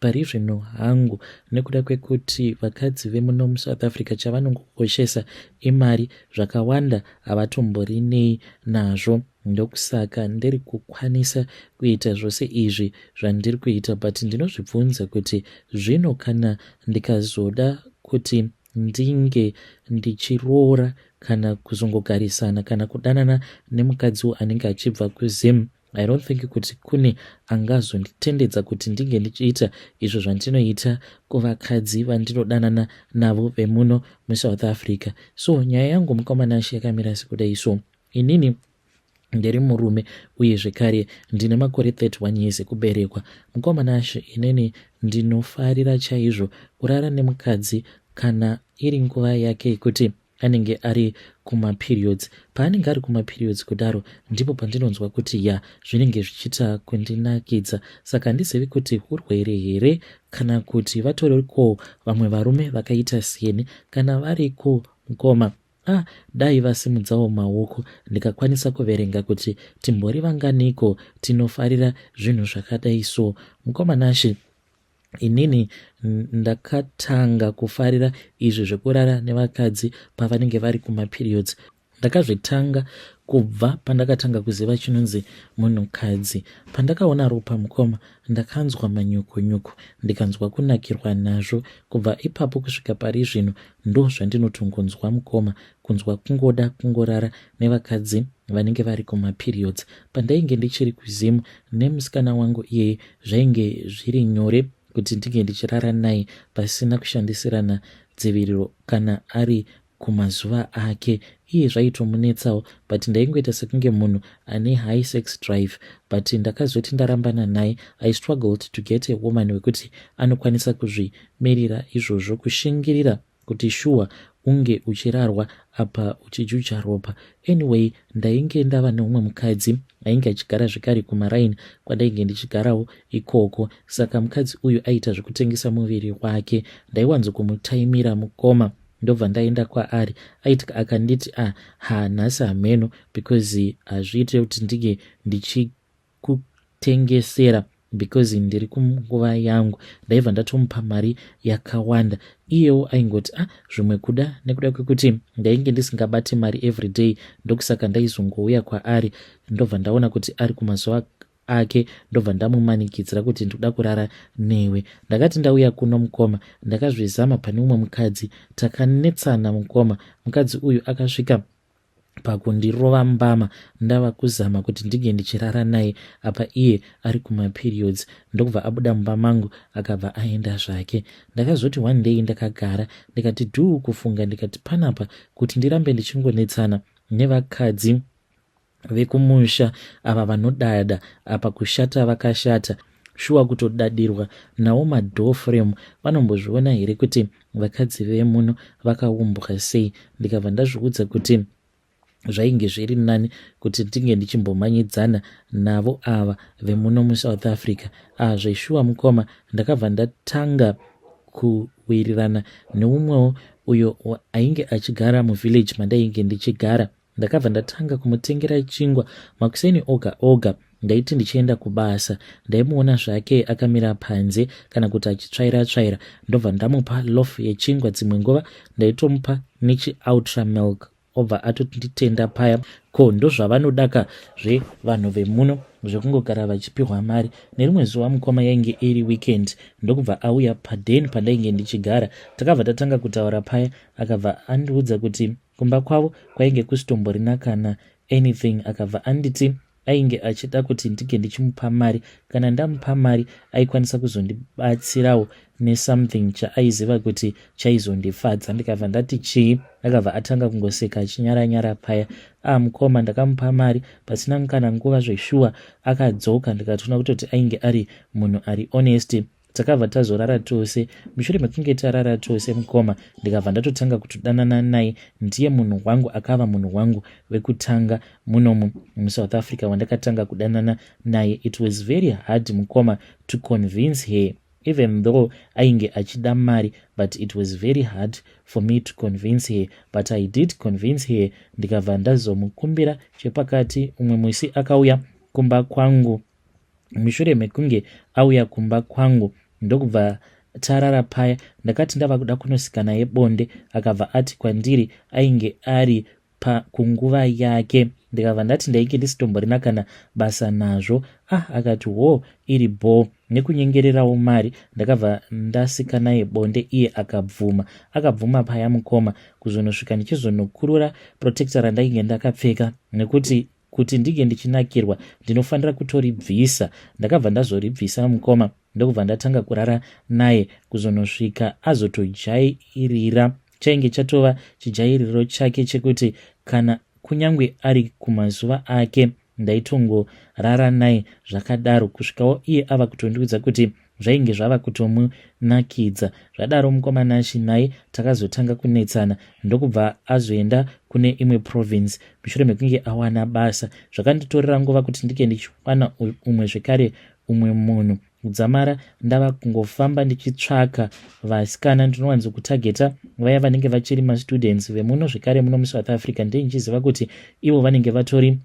Pari zvino hangu nekuda kwekuti vakadzi vemuno muSouth Africa chavanongokoshesa imari zvakawanda havatomborinei nazvo ndokusaka ndiri kukwanisa kuita zvose izvi zvandiri kuita but ndinozvibvunza kuti zvino kana ndikazoda kuti ndinge ndichiroora kana kuzongogarisana kana kudanana nemukadzi anenge achibva kuzim I don't think kuti kune angazonditendedza kuti ndinge ndichiita izvo zvandinoita kuvakadzi vandinodanana navo vemuno musouth africa so nyaya yangu mukomanashe yakamira sekudai so inini ndiri murume uye zvekare ndine makore 31 years ekuberekwa mukomanashe inini ndinofarira chaizvo kurara nemukadzi kana iri nguva yake yekuti anenge ari kumaperiods paanenge ari kumaperiods kudaro ndipo pandinonzwa kuti ya zvinenge zvichiita kundinakidza saka handizivi kuti urwere here kana kuti vatoriko vamwe varume vakaita siyeni kana variko mukoma a ah, dai vasimudzawo maoko ndikakwanisa kuverenga kuti timbori vanganiko tinofarira zvinhu zvakadai so mukoma nashe Inini ndakatanga kufarira izvi zvekurara nevakadzi pavanenge vari kumaperiods. Ndakazvitanga kubva pandakatanga kuziva chinonzi munhukadzi. Pandakaona ropa mukoma ndakanzwa manyukunyuku ndikanzwa kunakirwa nazvo. Kubva ipapo kusvika pari zvino ndozvandinotongonzwa mukoma kunzwa kungoda kungorara nevakadzi vanenge vari kumaperiods pandainge ndichiri kuzim nemusikana wangu iyeye zvainge zviri nyore kuti ndinge ndichirara naye pasina kushandisirana dziviriro kana ari kumazuva ake iye zvaitomunetsawo but ndaingoita sekunge munhu ane high sex drive but ndakazoti ndarambana naye i struggled to get a woman wekuti anokwanisa kuzvimirira izvozvo kushingirira kuti shuwa unge uchirarwa apa uchijuja ropa anyway ndainge ndava neumwe mukadzi ainge achigara zvekare kumaraini kwandainge ndichigarawo ikoko saka mukadzi uyu aita zvekutengesa muviri wake ndaiwanzo kumutaimira mukoma ndobva ndaenda kwaari aiti akanditi a ah, ha nhasi hameno because hazviite kuti ndinge ndichi kutengesera because ndiri kunguva yangu ndaiva ndatomupa mari yakawanda iyewo aingoti ah zvimwe kuda nekuda kwekuti ndainge ndisingabate mari everyday ndokusaka ndaizongouya kwaari ndobva ndaona kuti ari kumazuva ake ndobva ndamumanikidzira kuti ndikuda kurara newe ndakati ndauya kuno mukoma ndakazvizama pane umwe mukadzi takanetsana mukoma mukadzi uyu akasvika pakundirova mbama ndava kuzama kuti ndinge ndichirara naye apa iye ari kumaperiods ndokubva abuda mumba mangu akabva aenda zvake ndakazoti one day ndakagara ndikati dhuu kufunga ndikati panapa kuti ndirambe ndichingonetsana nevakadzi vekumusha ava vanodada apa kushata vakashata shuwa kutodadirwa nawo madoor frame vanombozviona here kuti vakadzi vemuno vakaumbwa sei ndikabva ndazviudza kuti zvainge zviri nani kuti ndinge ndichimbomanyidzana navo ava vemuno musouth africa ah zveshuwa mukoma ndakabva ndatanga kuwirirana neumwewo uyo ainge achigara muvillage mandainge ndichigara Ndakabva ndatanga kumutengera chingwa makuseni oga oga ndaiti ndichienda kubasa ndaimuona zvake akamira panze kana kuti achitsvaira tsvaira ndobva ndamupa lof yechingwa dzimwe nguva ndaitomupa nechioutra milk obva atonditenda paya ko ndozvavanodaka zvevanhu vemuno zvekungogara vachipihwa mari nerimwe zuva mukoma yainge iri weekend ndokubva auya paden pandainge ndichigara takabva tatanga kutaura paya akabva andiudza kuti Kumba kwavo kwainge kusitomborina kana anything akabva anditi ainge achida kuti ndinge ndichimupa mari kana ndamupa mari aikwanisa kuzondibatsirawo nesomething chaaiziva kuti chaizondifadza ndikabva ndati chii akabva atanga kungoseka achinyara nyara paya a ah, mukoma ndakamupa mari pasina mukana nguva zveshuwa akadzoka ndikatoona kutoti ainge ari munhu ari honest takabva tazorara tose mushure mekunge tarara tose mukoma ndikabva ndatotanga kutodanana naye ndiye munhu wangu akava munhu wangu wekutanga munomu musouth africa wandakatanga kudanana naye it was very hard mukoma to convince her even though ainge achida mari but it was very hard for me to convince her but i did convince her ndikabva ndazomukumbira chepakati umwe musi akauya kumba kwangu mushure mekunge auya kumba kwangu ndokubva tarara paya ndakati ndava kuda kunosika naye bonde akabva ati kwandiri ainge ari pakunguva yake ndikabva ndati ndainge ndisitomborina kana basa nazvo ah akati wo iri bho nekunyengererawo mari ndakabva ndasika naye bonde iye akabvuma akabvuma paya mukoma kuzonosvika ndichizonokurura protector randainge ndakapfeka nekuti kuti ndinge ndichinakirwa ndinofanira kutoribvisa ndakabva ndazoribvisa mukoma ndokubva ndatanga kurara naye kuzonosvika azotojairira chainge chatova chijairiro chake chekuti kana kunyange ari kumazuva ake ndaitongorara naye zvakadaro kusvikawo iye ava kutondiudza kuti Zvainge zvava kutomunakidza. Zvadaro mukoma Nashy naye takazotanga kunetsana ndokubva azoenda kune imwe province mushure mekunge awana basa. Zvakanditorera nguva kuti ndike ndichiwana umwe zvekare umwe munhu. Kudzamara ndava kungofamba ndichitsvaka vasikana ndinowanzokutageta vaya vanenge vachiri mastudents vemuno zvekare muno muSouth Africa ndee ndichiziva kuti ivo vanenge vatori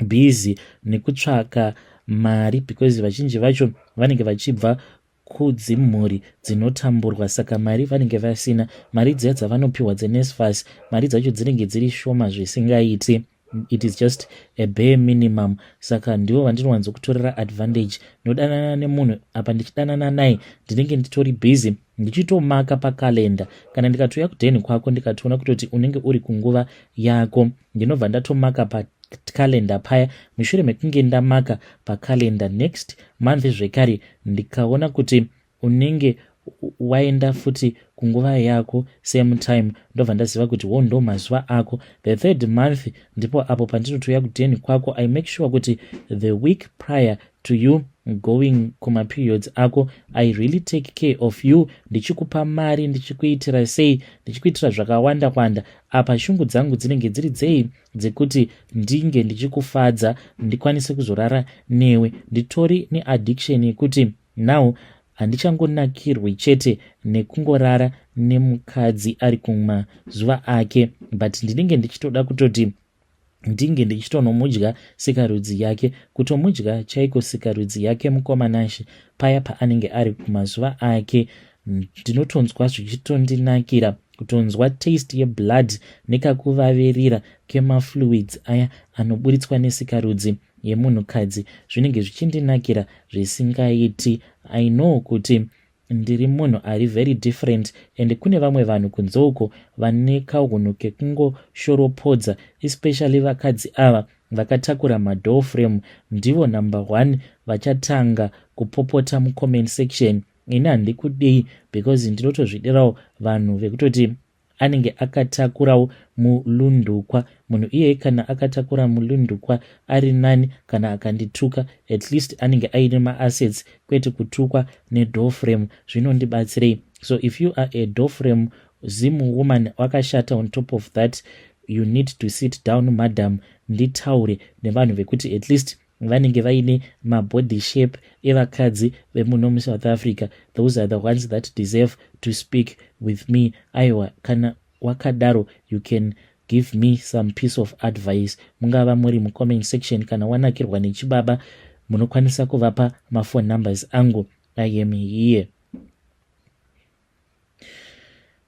busy nekutsvaka mari because vazhinji vacho vanenge vachibva kudzimhuri dzinotamburwa saka mari vanenge vasina mari dziya dzavanopiwa dzenesfas mari dzacho dzinenge dziri shoma zvisingaiti it is just a bare minimum saka ndivo vandinowanzokutorera advantage nodanana nemunhu apa ndichidanana naye ndinenge nditori busy ndichitomaka pakalenda kana ndikatouya kudheni kwako ndikatoona kutoti unenge uri kunguva yako ndinobva ndatomaka pakalenda paya mushure mekunge ndamaka pakalenda next month zvekare ndikaona kuti unenge waenda futi kunguva yako same time ndobva ndaziva kuti wo ndo mazuva ako the third month ndipo apo pandinotouya kudheni kwako i make sure kuti the week prior to you going kuma periods ako i really take care of you ndichikupa mari ndichikuitira sei ndichikuitira zvakawanda kwanda apa shungu dzangu dzinenge dziri dzei dzekuti ndinge ndichikufadza ndikwanise kuzorara newe nditori neaddiction yekuti now handichangonakirwi chete nekungorara nemukadzi ari kumazuva ake but ndinenge ndichitoda kutoti ndinge ndichitonomudya sikarudzi yake kutomudya chaiko sikarudzi yake mukoma nashe paya paanenge ari kumazuva ake ndinotonzwa zvichitondinakira kutonzwa taste yeblood nekakuvavirira kemafluids aya anoburitswa nesikarudzi yemunhukadzi zvinenge zvichindinakira zvisingaiti i know kuti Ndiri munhu ari very different and kune vamwe vanhu kunze uko vane kahunhu kekungoshoropodza especially vakadzi ava vakatakura madoor frame ndivo number one vachatanga kupopota mucomment section ini handikudei because ndinotozvidirawo vanhu vekutoti anenge akatakurawo mulundukwa munhu iyeye kana akatakura mulundukwa ari nani kana akandituka at least anenge aine maassets kwete kutukwa nedofrem zvinondibatsirei so if you are a dofrem zim woman wakashata on top of that you need to sit down madam nditaure nevanhu vekuti at least vanenge vaine mabody shape evakadzi vemuno musouth africa those are the ones that deserve to speak with me aiwa kana wakadaro you can give me some piece of advice mungava muri mucomment section kana wanakirwa nechibaba munokwanisa kuvapa mafone numbers angu i am here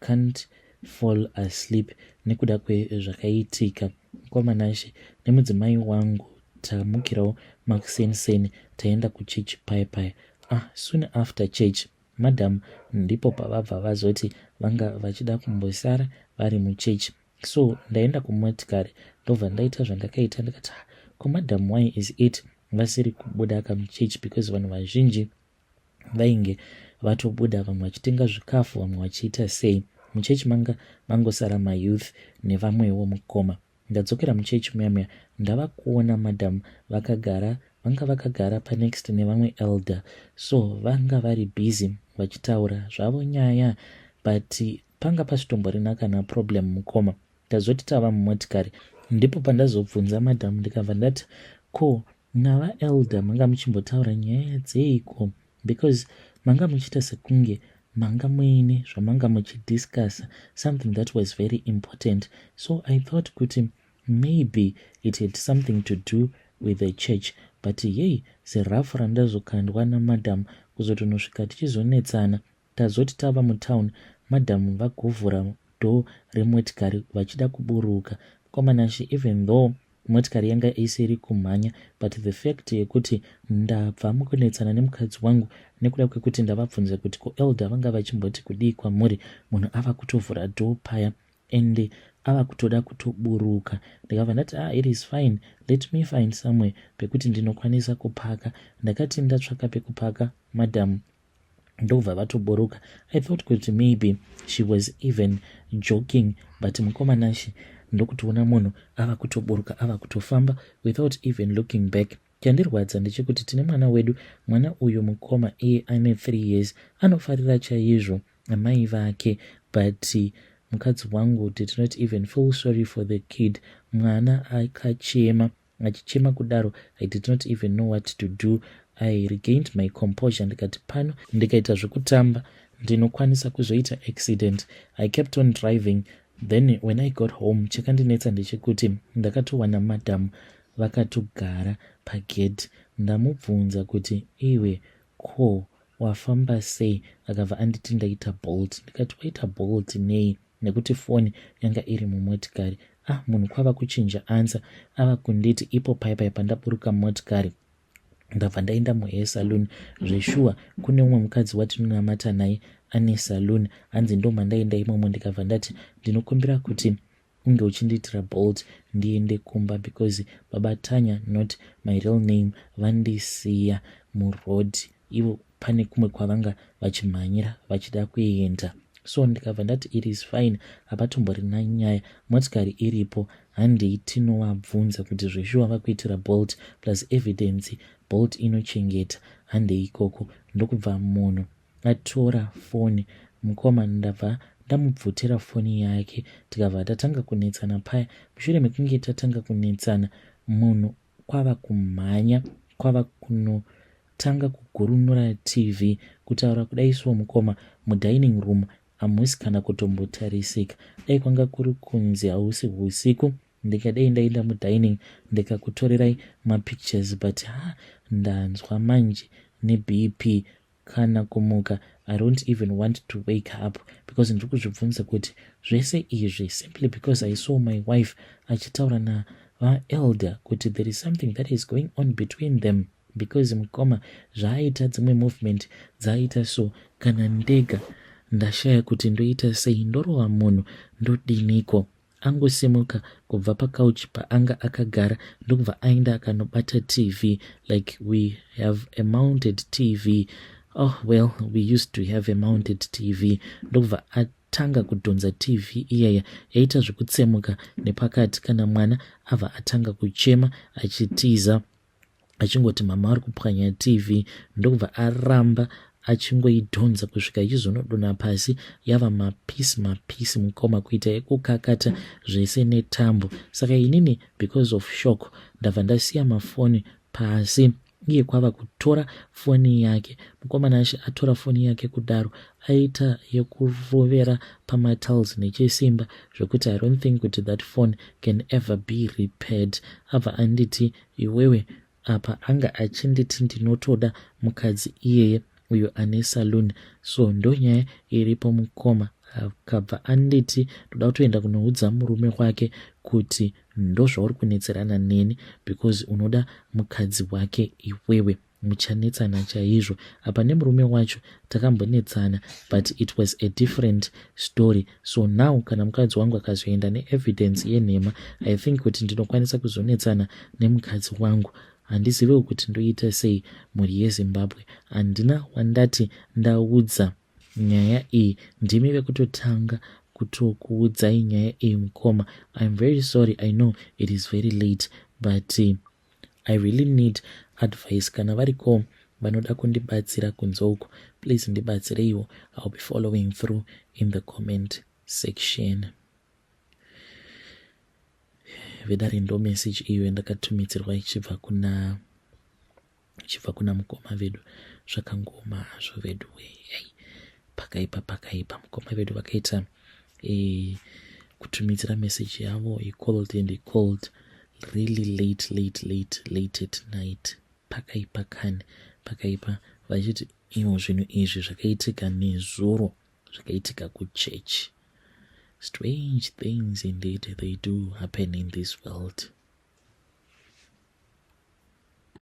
can't fall asleep nekuda kwezvakaitika mukoma Nashe nemudzimai wangu tamukirawo makuseni seni taenda kuchurch paye paye ah soon after church madam ndipo pavabva vazoti vanga vachida kumbosara vari muchechi so ndaenda kumotikari ndobva ndaita zvandakaita ndikati ko madam why is it vasiri kubuda kamuchechi because vanhu vazhinji vainge vatobuda vamwe vachitenga zvikafu vamwe vachiita sei muchechi manga mangosara mayouth nevamwewo mukoma ndadzokera muchechi muya muya ndava kuona madam vakagara vanga vakagara panext nevamwe elder so vanga vari busy vachitaura zvavo nyaya but panga pasitomborina kana problem mukoma tazoti tava mumotikari ndipo pandazobvunza madam ndikabva ndati ko Nava elder manga muchimbotaura nyaya dzeiko because manga muchiita sekunge manga muine zvamanga muchidiscussa something that was very important so i thought kuti maybe it had something to do with the church but yei zirafu randazokandwa namadam kuzotonosvika tichizonetsana Tazoti tava mutown madam vagovhura door remotikari vachida kuburuka. Mkoma Nashy even though motikari yanga isiri kumhanya but the fact yekuti ndabva mukunetsana nemukadzi wangu nekuda kwekuti ndavabvunza kuti ko Elder vanga vachimboti kudii kwamuri munhu ava kutovhura door paya and ava kutoda kutoburuka ndikabva ndati ah it is fine let me find somewhere pekuti ndinokwanisa kupaka ndakati ndatsvaka pekupaka madam ndokubva vatoburuka i thought kuti maybe she was even joking but mukoma nashe ndokutoona munhu ava kutoburuka ava kutofamba without even looking back chandirwadza ndechekuti tine mwana wedu mwana uyu mukoma iye ane three years anofarira chaizvo amai vake but mukadzi wangu did not even feel sorry for the kid mwana akachema Achichema kudaro I did not even know what to do. I regained my composure ndikati pano ndikaita zvekutamba ndinokwanisa kuzoita accident. I kept on driving then when I got home chakandinetsa ndechekuti ndakatowana madam vakatogara pagate ndamubvunza kuti iwe ko wafamba sei akabva anditi ndaita bolt ndikati waita bolt nei nekuti foni yanga iri mumotikari ah munhu kwava kuchinja ansa ava kunditi ipo pai pai pandaburuka motikari ndabva ndaenda muhair saloon zveshuwa kune umwe mukadzi watinonamata naye ane saloon hanzi ndo mandaenda imomo ndikabva ndati ndinokumbira kuti unge uchindiitira bolt ndiende kumba because baba tanya not my real name vandisiya muroad ivo pane kumwe kwavanga vachimhanyira vachida kuenda so ndikabva ndati it is fine hapatomborina nyaya motikari iripo handei tinovabvunza kuti zveshuwa vakuitira bolt plus evidence bolt inochengeta handei ikoko ndokubva munhu atora foni mukoma ndabva ndamubvutira foni yake tikabva tatanga kunetsana paya mushure mekunge tatanga kunetsana munhu kwava kumhanya kwava kunotanga kugurunura TV kutaura kudai so mukoma mudining room hamusi kana kutombotarisika dai kwanga kuri kunzi hausi husiku ndikadei ndaenda mudining ndikakutorerai mapictures but ha ndanzwa manje nebp kana kumuka I don't even want to wake up because ndiri kuzvibvunza kuti zvese izvi simply because I saw my wife achitaura na vaelder kuti there is something that is going on between them because mukoma zvaaita dzimwe movement dzaaita so kana ndega ndashaya kuti ndoita sei ndorova munhu ndodiniko Angosimuka kubva pacouch paanga akagara ndokubva aenda akanobata TV like we have a mounted TV. Oh well, we used to have a mounted TV. Ndokubva atanga kudhonza TV iyaya yaita zvekutsemuka nepakati kana mwana abva atanga kuchema achitiza. achingoti mama ari kupwanya tv ndokubva aramba achingoidhonza kusvika ichizonodona pasi yava mapisi mapisi mukoma kuita yekukakata zvese netambo saka inini because of shock ndabva ndasiya mafoni pasi iye kwava kutora foni yake mukomana ashe atora foni yake kudaro aita yekurovera pamatiles nechisimba zvekuti i don't think kuti that phone can ever be repaired abva anditi iwewe apa anga achinditi ndinotoda mukadzi iyeye uyo ane saloon so ndonyaya iripo mukoma akabva anditi ndoda kutoenda kunoudza murume wake kuti ndozvauri kunetserana neni because unoda mukadzi wake iwewe muchanetsana chaizvo apa nemurume wacho takambonetsana but it was a different story so now kana mukadzi wangu akazoenda neevidence yenhema i think kuti ndinokwanisa kuzonetsana nemukadzi wangu handizivewo kuti ndoita sei mhuri yezimbabwe handina wandati ndaudza nyaya iyi ndimi vekutotanga kutokuudzai nyaya iyi mukoma iam very sorry i know it is very late but uh, I really need advice kana variko vanoda kundibatsira kunze uko please ndibatsireiwo I'll be following through in the comment section vedare ndo message iyo yandakatumidzirwa ichibva kuna ichibva kuna mukoma vedu zvakangoma hazvo vedu weyai pakaipa pakaipa mukoma vedu vakaita e, kutumidzira message yavo he called and he called really late late late late at night pakaipa kani pakaipa vachiti ivo zvinhu izvi zvakaitika nezuro zvakaitika kuchechi strange things indeed they do happen in this world